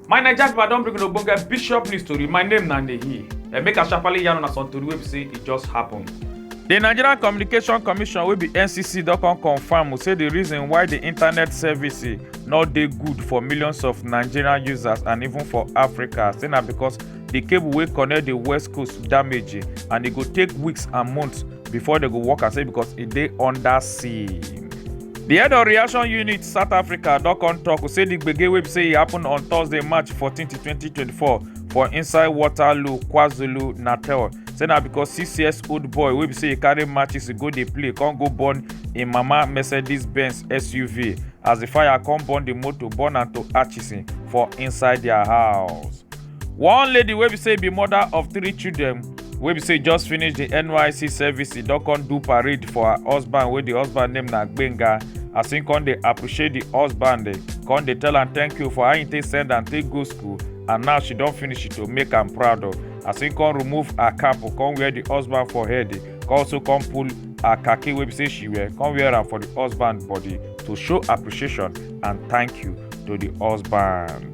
my naija pipo i don bring una ogbonge bishop news tori my name na nehi and eh, make i sharparly yarn una some tori wey be say e just happen. di nigerian communication commission wey be ncc don come confam say di reason why di internet service no dey good for millions of nigerian users and even for africa say na because di cable wey connect di west coast damage and e go take weeks and months before they go work and say because it dey under sea. The head of reaction unit South Africa don come talk say the gbege wey be say e happen on Thursday March 14, 2024 for inside Waterloo, KwaZulu, Natal. Say na because six years old boy wey be say e carry matches go dey play come go burn im mama Mercedes Benz SUV as the fire come burn the motor burn am to ashes for inside their house. one lady wey be say be mother of three children wey be say just finish di nysc service e don come do parade for her husband wey di husband name na gbenga as im come dey appreciate di husband eh, come dey tell am thank you for how im take send am take go school and now she don finish to make am proud of oh. as im come remove her cap oh, come wear di husband for head eh, come also come pull her khaki wey be say she wear come wear am for di husband body to show appreciation and thank you to di husband.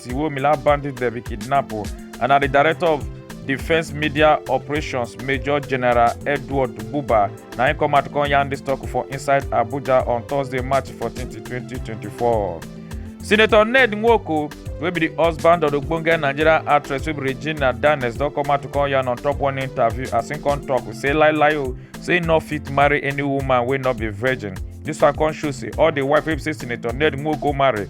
Tiwomila bandits dem be kidnap o and na the director of defence media operations major general edward buba na him come out come yarn dis talk for inside abuja on thursday march 14 2024. senator ned nwoko wey be di husband of ogbonge nigerian actress wey be regina danes don come out to come yarn on top one interview as him come tok say lie lie o say him no fit marry any woman wey no be virgin dis one come show say all di wife wey be say senator ned nwoko marry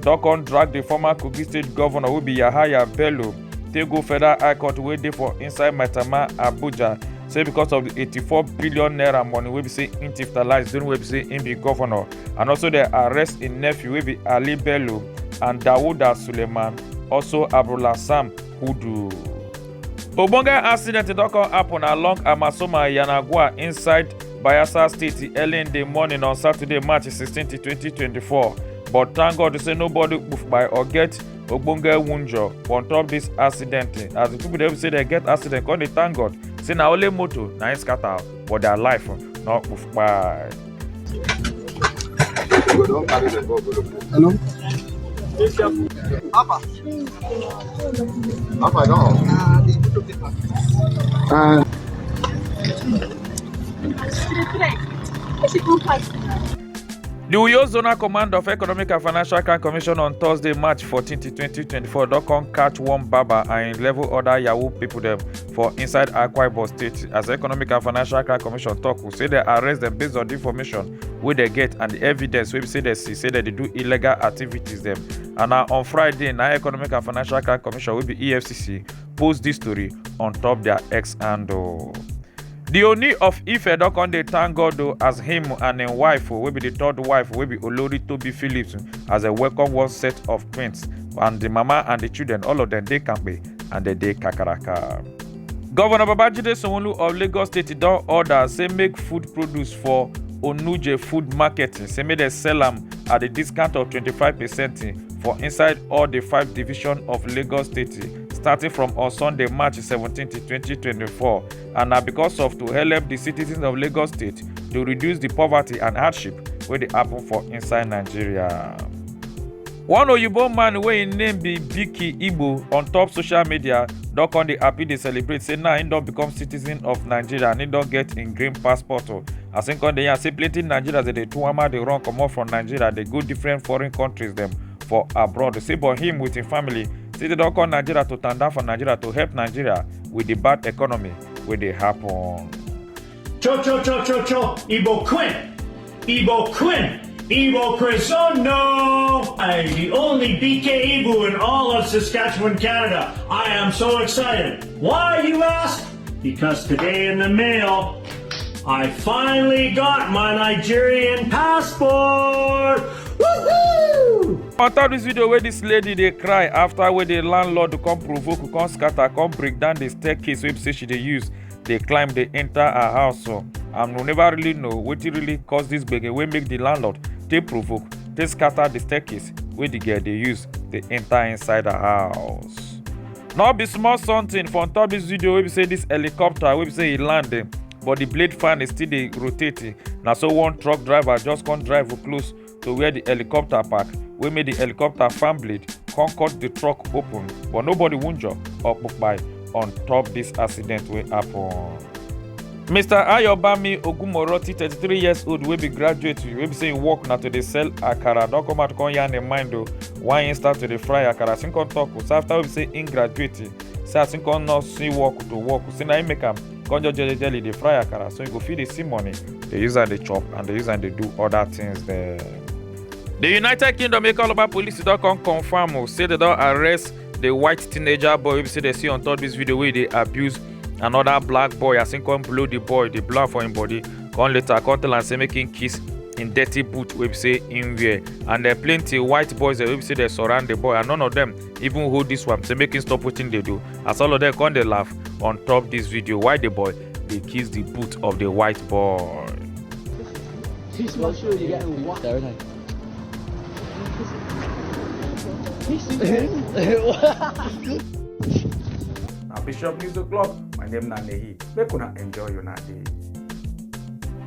don come drag di former kogi state governor wey be yahaya bello take go federal high court wey dey for inside maitama abuja say because of di 84 billion naira money wey be say im tiftalize during wey be say im be governor and also dem arrest im nephew wey be ali bello and dawuda suleiman also abdulhassan hudu. ogbonge accident don come happen along amasoma yanagua inside Bayelsa State early in the morning on Saturday, March 16, 2024. But thank God say nobody poof by or get ogbonge wunjo on top this accident. As the people dem say they get accident, come dey thank God. Say na only motor na im scatter for their life, no poof by. Hello. Apa dong? Ah. The Uyo Zonal Command of Economic and Financial Crime Commission on Thursday, March 14, 2024, don come catch one barber and level other Yahoo people dem for inside akwa ibom state as economic and financial crime commission tok say dem arrest dem based on di information wey dem get and di evidence wey be say dem see say dem dey do illegal activities dem and na on friday na economic and financial crime commission wey be efcc post dis story on top dia x handle. di oni of ife don come dey thank god o as him and im wife wey be di third wife wey be olori tobi phillips as dem welcome one set of twins and di mama and di children all of dem dey kampe and dem dey kakaraka. governor babajide sanwo-olu of lagos state don order say make food produce for onuje food market say make dem sell am at a discount of 25 percent for inside all di five division of lagos state starting from on sunday march 17 2024. and na because of to help di citizens of lagos state to reduce di poverty and hardship wey dey happen for inside nigeria. one oyibo man wey im name be biki igbo on top social media don come dey happy dey celebrate say now im don become citizen of nigeria and im don get im green passport o as im come dey yarn say plenty nigerians dey dey tuwama dey run comot from nigeria dey go different foreign countries dem for abroad say but him with him family say they don come nigeria to tanda for nigeria to help nigeria with the bad economy wey dey happen. Cho cho cho cho cho, Igbo Queen, Igbo Queen, Igbo Crisono! I, the only BK Igbo in all of Saskatchewan, Canada. I am so excited. Why, you ask? Because today in the mail, I finally got my Nigerian passport! Woohoo! on top dis video wey dis lady dey cry afta wey di landlord come provoke come scatter come break down di staircase wey be say she dey use dey climb dey enter her house so and we never really know wetin really cause dis gbege wey make di landlord take provoke take scatter di staircase wey di girl dey use dey enter inside her house no be small something for on top dis video wey be say dis helicopter wey be say e land eh, but di blade fan is still dey rotate eh. na so one truck driver just come drive close to where di helicopter park wey make di helicopter fan blade come cut di truck open but nobody wunjure or kpai on top dis accident wey happen. mr ayobami ogumoroti thirty-three years old wey be graduate wey be say im work na to dey sell akara don come out come yarn im mind o why im start to dey fry akara as im come tok say after wey be say im graduate say as im come no see work to work say na im make am come just jolly jolly dey fry akara so you go fit dey see money dey use am dey chop and dey use am dey do other things dem. The United Kingdom Ekoloba police don come confirm o say they don arrest the white teenager boy wey be say they see on top this video wey dey abuse another black boy as him come blow the boy dey blow am for him body come later come tell am say make him kiss him dirty boot wey be say him wear and then plenty white boys dem wey be say dey surround the boy and none of them even hold this one say make him stop wetin dey do as all of them come dey laugh on top this video why the boy dey kiss the boot of the white boy. He's not sure you get a what. There, isn't he? Bishop News O'Clock, my name na Nehi. Make una enjoy your night.